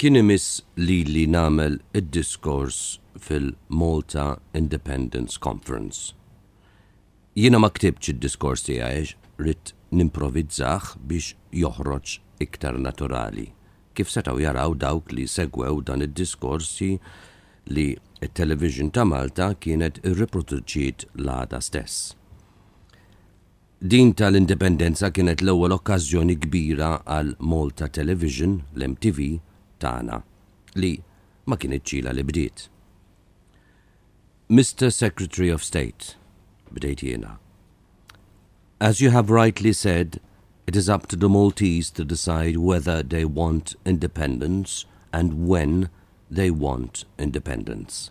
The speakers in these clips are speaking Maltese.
Kien imiss lili nagħmel id-diskors fil-Malta Independence Conference. Jiena ma ktibtx id-diskors tiegħi għax ridt nimprovizzah biex joħroġ iktar naturali, kif setgħu jaraw dawk li segwew dan id-diskorsi li t-television ta' Malta kienet irriproduċiet l-għada stess. Din tal-Indipendenza kienet l-ewwel okkażjoni kbira għal Malta Television, l-MTV, tagħna, li ma kinitx ilha li bdiet. Mister Secretary of State, bdejt jiena, as you have rightly said, it is up to the Maltese to decide whether they want independence and when they want independence.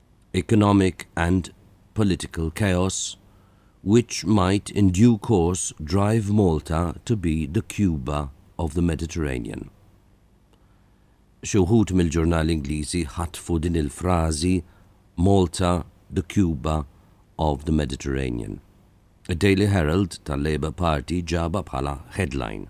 economic and political chaos which might in due course drive Malta to be the Cuba of the Mediterranean. Xi wħud mill-ġurnali Ingliżi ħatfu din il-frażi Malta the Cuba of the Mediterranean. Id-Daily Herald tal-Labour Party ġabha bħala headline.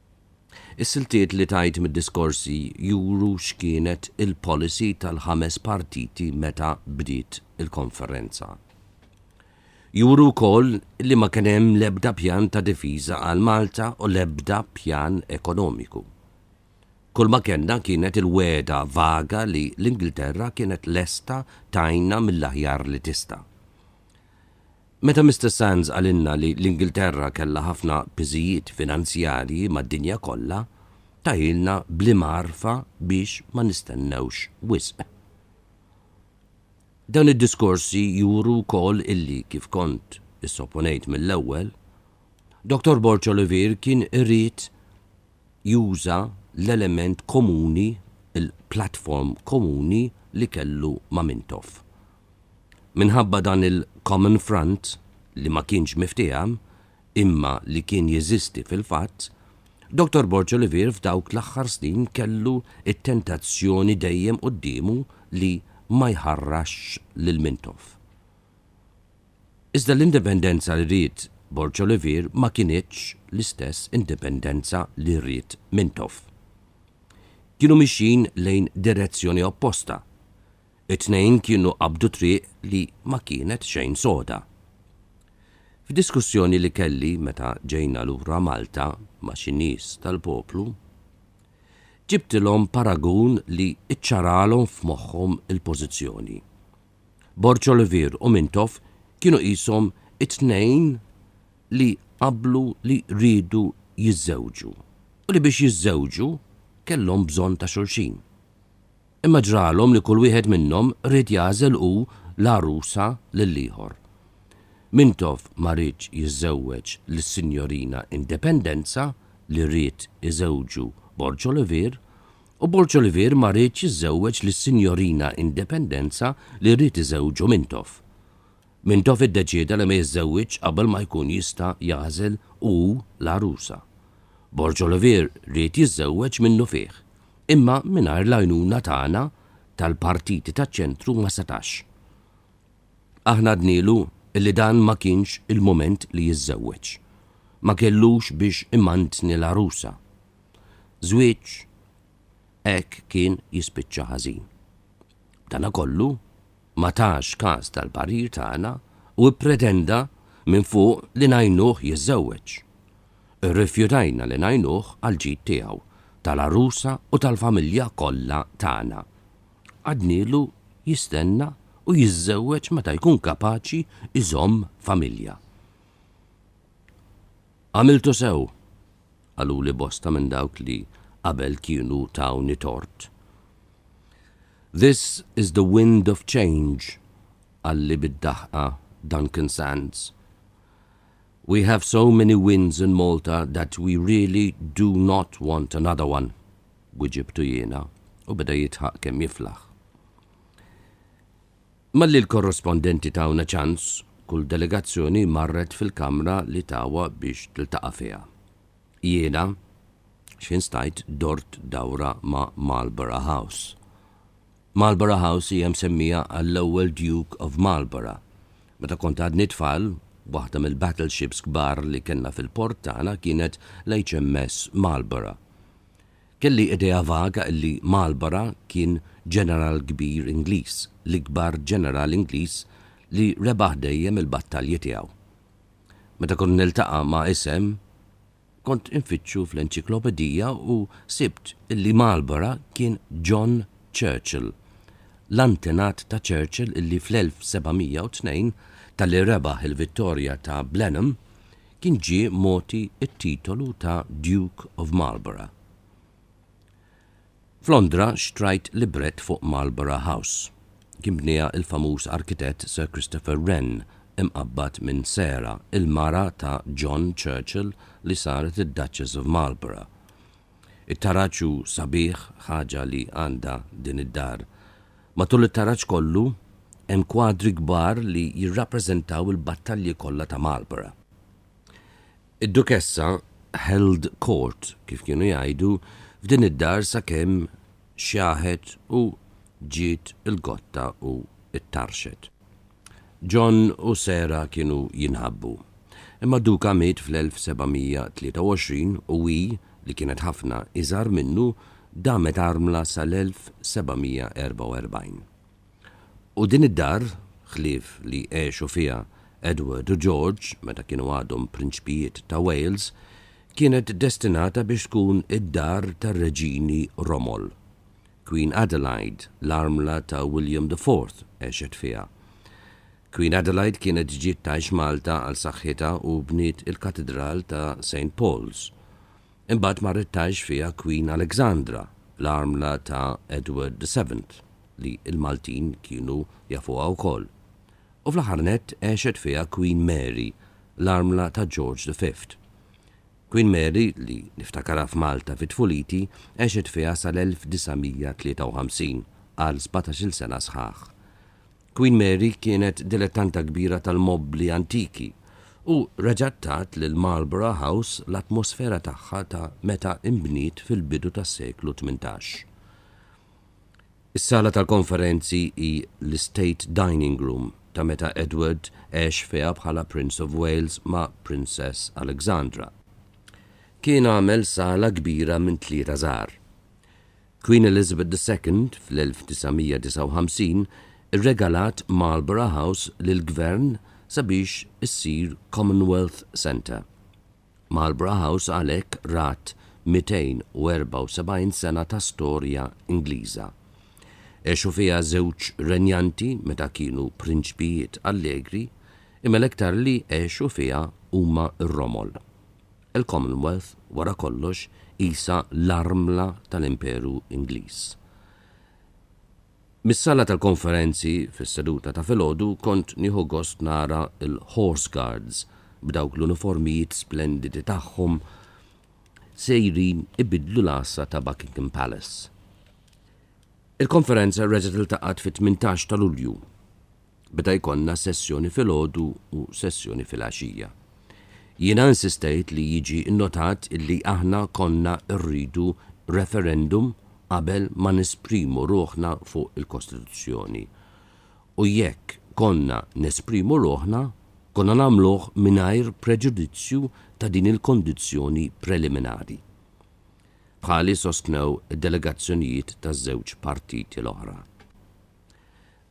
Is-siltiet li tajt mid-diskorsi juru x'kienet il-policy tal-ħames partiti meta bdiet il-konferenza. Juru wkoll li ma kien hemm l-ebda pjan ta' difiża għal Malta u l-ebda pjan ekonomiku. Kull ma kellna kienet il-wegħda vaga li l-Ingilterra kienet lesta tgħinna mill-aħjar li tista'. Meta Mister Sands qalilna li l-Ingilterra kellha ħafna piżijiet finanzjarji mad-dinja kollha, tahielna bl-imgħarfa biex ma nistennewx wisq. Dawn id-diskorsi juru wkoll illi, kif kont issopponejt mill-ewwel, Dottor Borg Olivier kien iried juża l-element komuni, il-platform komuni li kellu ma' Mintoff. Minħabba dan il-common front li ma kienx miftiehem imma li kien jeżisti fil-fatt, Dottor Borg Olivier f'dawk l-aħħar snin kellu t-tentazzjoni dejjem quddiemu li ma jħarrasx lil Mintoff. Iżda l-indipendenza li ried Borg Olivier ma kinitx l-istess indipendenza li ried Mintoff. Kienu mixjin lejn direzzjoni opposta. It-tnejn kienu qabdu triq li ma kienet xejn soda. F'diskussjoni li kelli meta ġejna lura Malta ma' xi nies tal-poplu, ġibtilhom paragun li ċċaralhom f'moħħhom il-pożizzjoni. Borg Olivier u Mintoff kienu qishom it-tnejn li qablu li riedu jiżżewġu u li biex jiżżewġu kellhom bżonn ta' xulxin. Imma ġralhom li kull wieħed minnhom ried jagħżel hu l-għarusa lill-ieħor. Mintoff ma riedx jiżżewweġ lis-Sinjorina Independenza li ried iżewġu Borg Olivier u Borg Olivier ma riedx jiżżewweġ lis-Sinjorina Independenza li ried iżewġu Mintoff. Mintoff iddeċieda li ma jiżżewwiġx qabel ma jkun jista' jagħżel hu l-għarusa. Borg Olivier ried jiżżewweġ minnufih. Imma mingħajr l-għajnuna tagħna tal-partiti taċ-ċentru ma setax. Aħna għednielu li dan ma kienx il-mument li jiżżewweġ. Ma kellux biex imantni l-għarusa. Żwieġ hekk kien jispiċċa ħażin. B'danakollu ma tax kas tal-parir tagħna u ppretenda minn fuq li ngħinuh jiżżewweġ. Irrifjutajna li ngħinuh għall-ġid tiegħu, tal-għarusa u tal-familja kollha tagħna. Għadnielu jistenna u jiżżewweġ meta jkun kapaċi jżomm familja. Għamiltu sew! qaluli bosta minn dawk li qabel kienu tawni tort. This is the wind of change, qalli bid-daħqa Duncan Sands. We have so many winds in Malta that we really do not want another one, wiġibtu jiena u beda jidħaq kemm jiflaħ. Malli l-korrespondenti tawna ċans, kull delegazzjoni marret fil-kamra li tawha biex tiltaqa' fiha. Jiena, x'ħin stajt dort dawra ma' Marlborough House. Marlborough House hija msemmija għall-ewwel Duke of Marlborough. Meta kont għadni tfal, waħda mill-battleships kbar li kellna fil-port tagħna kienet l-HMS Marlborough. Kelli idea vaga illi Marlborough kien ġeneral kbir Ingliż, l-ikbar ġeneral Ingliż li rebaħ dejjem il-battalji tiegħu. Meta kont niltaqa' ma' isem, kont infittxu fl-enċiklopedija u sibt illi Marlborough kien John Churchill, l-antenat ta' Churchill illi fl-1702, talli rebaħ il-vittorja ta' Blenheim, kien ġie mogħti t-titolu ta' Duke of Marlborough. F'Londra xtrajt librett fuq Marlborough House. Kien bnieha l-famuż arkitett Sir Christopher Wren, imqabbad minn Sarah, il-mara ta' John Churchill li saret id-Duchess of Marlborough. It-taraġ hu sabiħ, ħaġa li għandha din id-dar. Matul it-taraġ kollu, hemm kwadri kbar li jirrappreżentaw il-battalji kollha ta' Marlborough. Id-Dukessa held court, kif kienu jgħidu, f'din id-dar sakemm xjaħet u ġiet il-gotta u ttarrxet. John u Sarah kienu jinħabbu. Imma Duca miet fl-1723 u hi, li kienet ħafna iżgħar minnu, damet armla sal-1744. U din id-dar, ħlief li għexu fiha Edward u George meta kienu għadhom prinċpijiet ta' Wales, kienet destinata biex tkun id-dar tar-reġini Romol. Queen Adelaide, l-armla ta' William the Fourth, għexet fiha. Queen Adelaide kienet ġiet tgħix Malta għal saħħitha u bniet il-Katidral ta' Saint Paul's. Imbagħad marret tgħix fiha Queen Alexandra, l-armla ta' Edward the Seventh, li l-Maltin kienu jafuha wkoll. U fl-aħħar nett għexet fiha Queen Mary, l-armla ta' George the Fifth. Queen Mary, li niftakarha f'Malta fi tfuliti, għexet fiha sal-1953, għal sbatax-il sena sħaħ. Queen Mary kienet dilettanta kbira tal-mobbli antiki u reġgħet tat lil Marlborough House l-atmosfera tagħha ta' meta inbniet fil-bidu tas-seklu tmintax. Is-sala tal-konferenzi hi l-Estate Dining Room ta' meta Edward għex fiha bħala Prince of Wales ma' Princess Alexandra. Kien għamel sala kbira minn tlieta żgħar. Queen Elizabeth ii fl-1959 irregalat Marlborough House lill-Gvern sabiex issir Commonwealth Centre. Marlborough House għalhekk rat 274 sena ta' storja Ingliża. Għexu fiha żewġ renjanti meta kienu prinċpijiet allegri, imma l-iktar li għexu fiha huma r-romol. Il-Commonwealth, wara kollox, qisha l-armla tal-Imperu Ingliż. Mis-sala tal-konferenzi, fis-seduta ta' filgħodu, kont nieħu gost nara l-Horse Guards b'dawk l-uniformijiet splendidi tagħhom sejrin ibiddlu l-għassa ta' Buckingham Palace. Il-konferenza reġgħet iltaqgħet fit-tmintax ta' Lulju. beda jkollna sessjoni filgħodu u sessjoni filgħaxija. Jiena insistejt li jiġi nnotat illi aħna konna rridu referendum qabel ma nesprimu ruħna fuq il-Kostituzzjoni. U jekk konna nesprimu ruħna, konna nagħmluh mingħajr preġudizzju ta' din il-kondizzjoni preliminari. Bħali sostnew id-delegazzjonijiet taż-żewġ partiti l-oħra.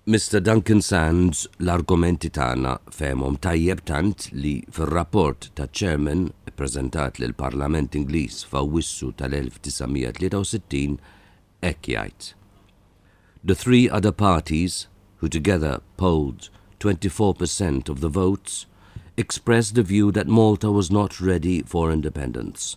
Mister Duncan Sands l-argumenti tagħna fehemhom tajjeb tant li fir-rapport taċ-Chairman ippreżentat lill-Parlament Ingliż f'Awwissu tal-1963 hekk jgħid, The three other parties, who together polled 24 per cent of the votes, expressed the view that Malta was not ready for independence.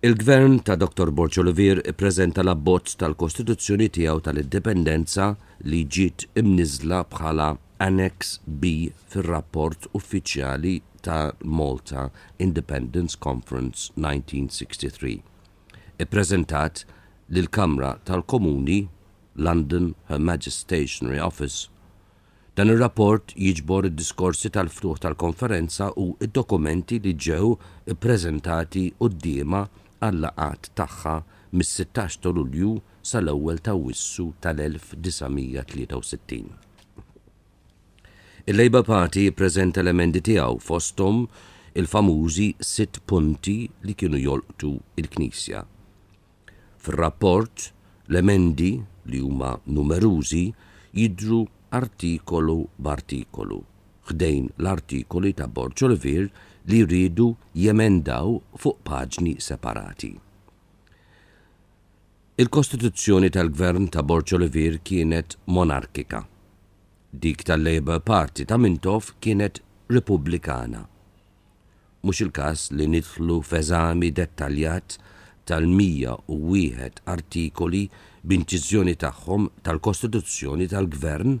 Il-Gvern ta' Dottor Borg Olivier ippreżenta l-abbozz tal-kostituzzjoni tiegħu tal-Indipendenza li ġiet imniżżla bħala Annex B fir-rapport uffiċjali ta' Malta Independence Conference 1963. Ippreżentat lill-Kamra tal-Komuni, London, Her Majesty's Stationery Office, Dan ir-rapport jiġbor id-diskorsi tal-ftuħ tal-konferenza u d-dokumenti li ġew ippreżentati quddiemha għal-laqgħat tagħha mis-sittax ta' Lulju sal-ewwel ta' Awwissu tal-1963. Il-Labour Party ppreżenta l-emendi tiegħu fosthom il-famużi sitt punti li kienu jolqtu l-Knisja. Fir-rapport, l-emendi, li huma numerużi, jidhru artikolu b'artikolu, ħdejn l-artikoli ta' Borg Olivier li jriedu jemendaw fuq paġni separati. Il-kostituzzjoni tal-Gvern ta' Borg Olivier kienet monarkika. Dik tal-Labour Party ta' Mintoff kienet Repubblikana. Mhux il-każ li nidħlu f'eżami dettaljat tal-101 artikoli b'inċiżjoni tagħhom tal-Kostituzzjoni tal-Gvern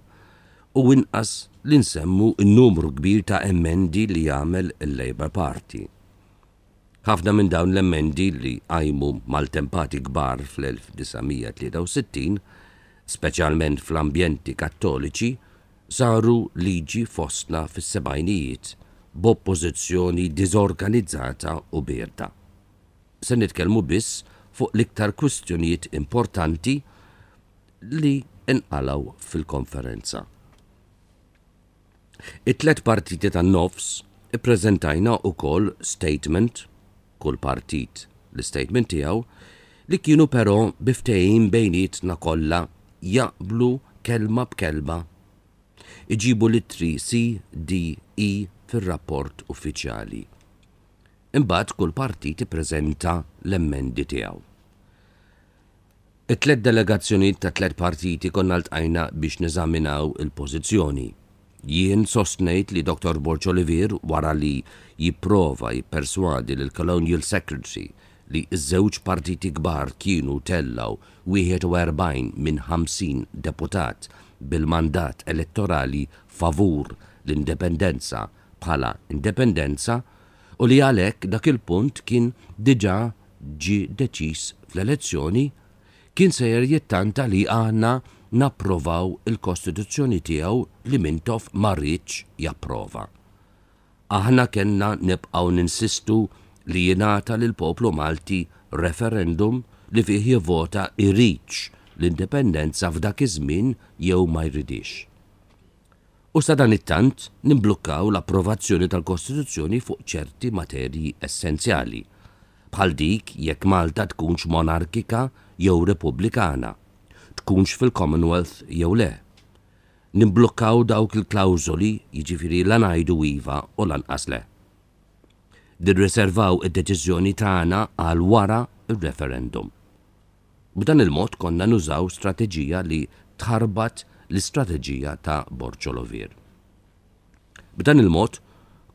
u inqas li nsemmu n-numru kbir ta' emendi li għamel il-Labour Party. Ħafna minn dawn l-emendi li qajmu maltempati kbar fl-1963, speċjalment fl-ambjenti Kattoliċi, saru liġi fostna fis-sebgħinijiet b'oppożizzjoni diżorganizzata u bierda. Se nitkellmu biss fuq l-iktar kwistjonijiet importanti li nqalgħu fil-konferenza. It-tliet partiti tan-nofs ippreżentajna wkoll statement, kull partit l-istatement tiegħu, li kienu però bi ftehim bejnietna kollha jaqblu kelma b'kelma. Iġibu l-ittri si, di, i fir-rapport uffiċjali. Imbagħad kull partit ippreżenta l-emmendi tiegħu. It-tliet delegazzjonijiet tat-tliet partiti konna ltqajna biex neżaminaw il-pożizzjoni. Jien sostnejt li Dottor Borg Olivier wara li jipprova jipperswadi lill-Colonial Secretary li ż-żewġ partiti kbar kienu tellgħu 41 minn 50 deputat bil-mandat elettorali favur l-indipendenza bħala indipendenza u li għalhekk dak il-punt kien diġà ġie deċiż fl-elezzjoni kien sejjer jittanta li aħna napprovaw il-Kostituzzjoni tiegħu li Mintoff ma riedx japprova. Aħna kellna nibqgħu ninsistu li jingħata lill-poplu Malti referendum li fih jivvota jridx l-indipendenza f'dak iż-żmien jew ma jridhiex. u sadanittant nimblukkaw l-approvazzjoni tal-Kostituzzjoni fuq ċerti materji essenzjali, bħal dik jekk Malta tkunx monarkika jew repubblikana, tkunx fil-Commonwealth jew le. Nimblukkaw dawk il-klawżoli, jiġifieri la ngħidu iva u lanqas le. Nirriservaw id-deċiżjoni tagħna għal wara r-referendum. B'dan il-mod konna nużaw strateġija li tħarbat l-istrateġija ta' Borċo Lovir. B'dan il-mod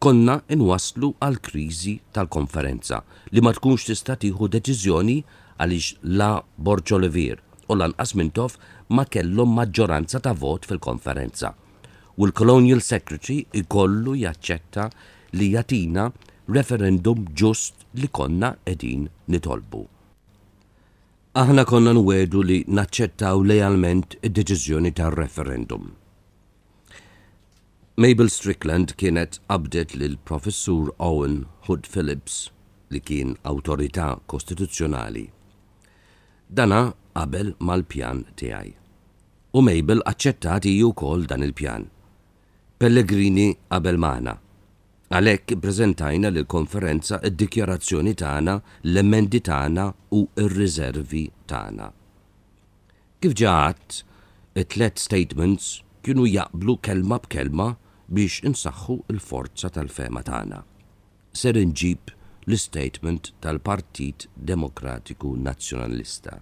konna nwasslu għal kriżi tal-Konferenza li ma tkunx tista' tieħu deċiżjoni għaliex la Borċo Lovir u lanqas Mintoff ma kellhom maġġoranza ta' vot fil-Konferenza u l-Colonial Secretary jkollu jaċċetta li jagħtina referendum ġust li konna qegħdin nitolbu. Aħna konna nwiegħdu li naċċettaw lealment id-deċiżjoni tar-referendum. Mabel Strickland kienet qabdet lil Professur Owen Hood Phillips li kien awtorità kostituzzjonali. Dana qabel mal-pjan tiegħi. U Mabel aċċettat hi wkoll dan il-pjan. Pellegrini qabel magħna. Għalhekk ippreżentajna lill-Konferenza d-dikjarazzjoni tagħna, l-emendi tagħna u r-riżervi tagħna. Kif ġa għadt, it-tliet statements kienu jaqblu kelma b'kelma biex insaħħu l-forza tal-fehma tagħna. Ser inġib l-istatement tal-Partit Demokratiku Nazzjonalista.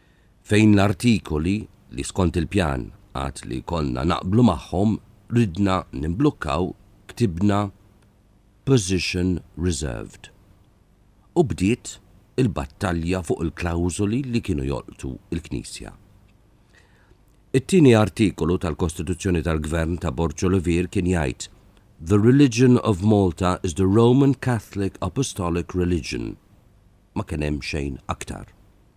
Fejn l-artikoli li skont il-pjan għad li konna naqblu magħhom ridna nimblukkaw ktibna position reserved u bdiet il-battalja fuq il-klawżoli li kienu jolqtu l-Knisja. It-tieni artikolu tal-Kostituzzjoni tal-Gvern ta' Borċo Levir kien jgħid The religion of Malta is the Roman Catholic Apostolic religion. Ma kien hemm xejn aktar.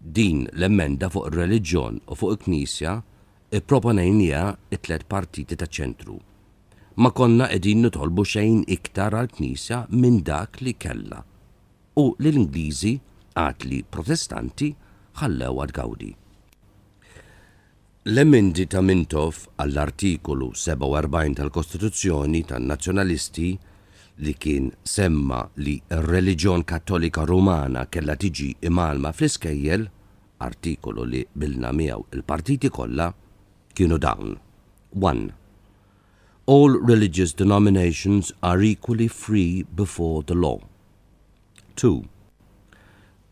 Din l-emenda fuq ir-reliġjon u fuq il-Knisja ipproponejnieha t-tliet partiti taċ-ċentru. Ma konna qegħdin nitolbu xejn iktar għall-Knisja minn dak li kellha u li l-Ingliżi, għaqli Protestanti, ħallewha tgawdi. L-emendi ta' Mintoff għall-Artikolu 47 tal-Kostituzzjoni tan-Nazzjonalisti, li kien semma li r-reliġjon Kattolika Rumana kellha tiġi imgħallma fl-iskejjel, artikolu li qbilna miegħu l-partiti kollha, kienu dawn, one All religious denominations are equally free before the law. Two.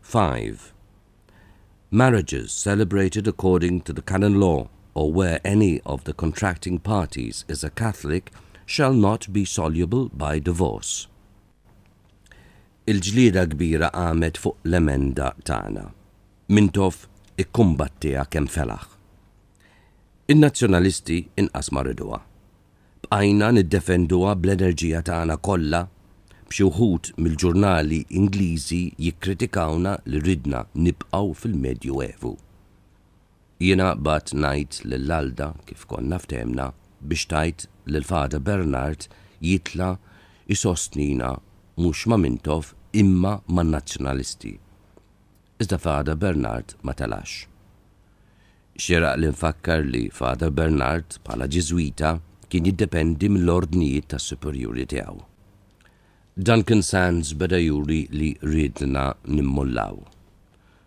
5. Marriages celebrated according to the canon law or where any of the contracting parties is a Catholic shall not be soluble by divorce. Il-ġlieda kbira qamet fuq l-emenda tagħna. Mintoff ikkumbattiha kemm felaħ. In-Nazzjonalisti inqas ma riduha. Bqajna niddefenduha bl-enerġija tagħna kollha, b'xi wħud mill-ġurnali Ingliżi jikkritikawna li ridna nibqgħu fil-Medju Evu. Jiena bgħadt ngħid lil Alda, kif konna ftehmna, biex tgħid lil Father Bernard jitla' jsostnina mhux ma' Mintoff imma man-Nazzjonalisti. iżda Father Bernard ma telax. Xieraq li nfakkar li Father Bernard, bħala Ġiżwita, kien jiddependi mill-ordnijiet tas-superjuri tiegħu. Duncan Sands beda juri li riedna nimmollaw.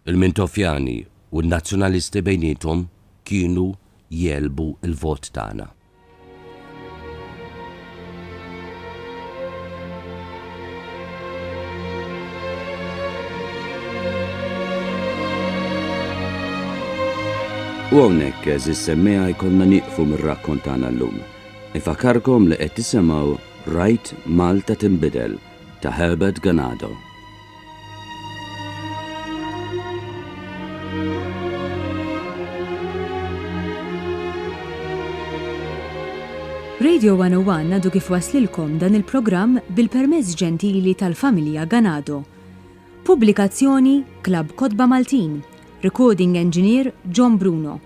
Il-Mintofjani u n-Nazzjonalisti bejniethom kienu jegħlbu l-vot tagħna. U hawnhekk eżis semmeja jkollna nieqfu mir-rakkont tagħna llum. Ifakarkom li qed tisimgħu Rajt Malta Tinbidel ta' Herbert Ganado. Radio 101 għadu kif waslilkom dan il-programm bil-permezz ġentili tal-familja Ganado. Pubblikazzjoni Klab Kotba Maltin, Recording Engineer John Bruno.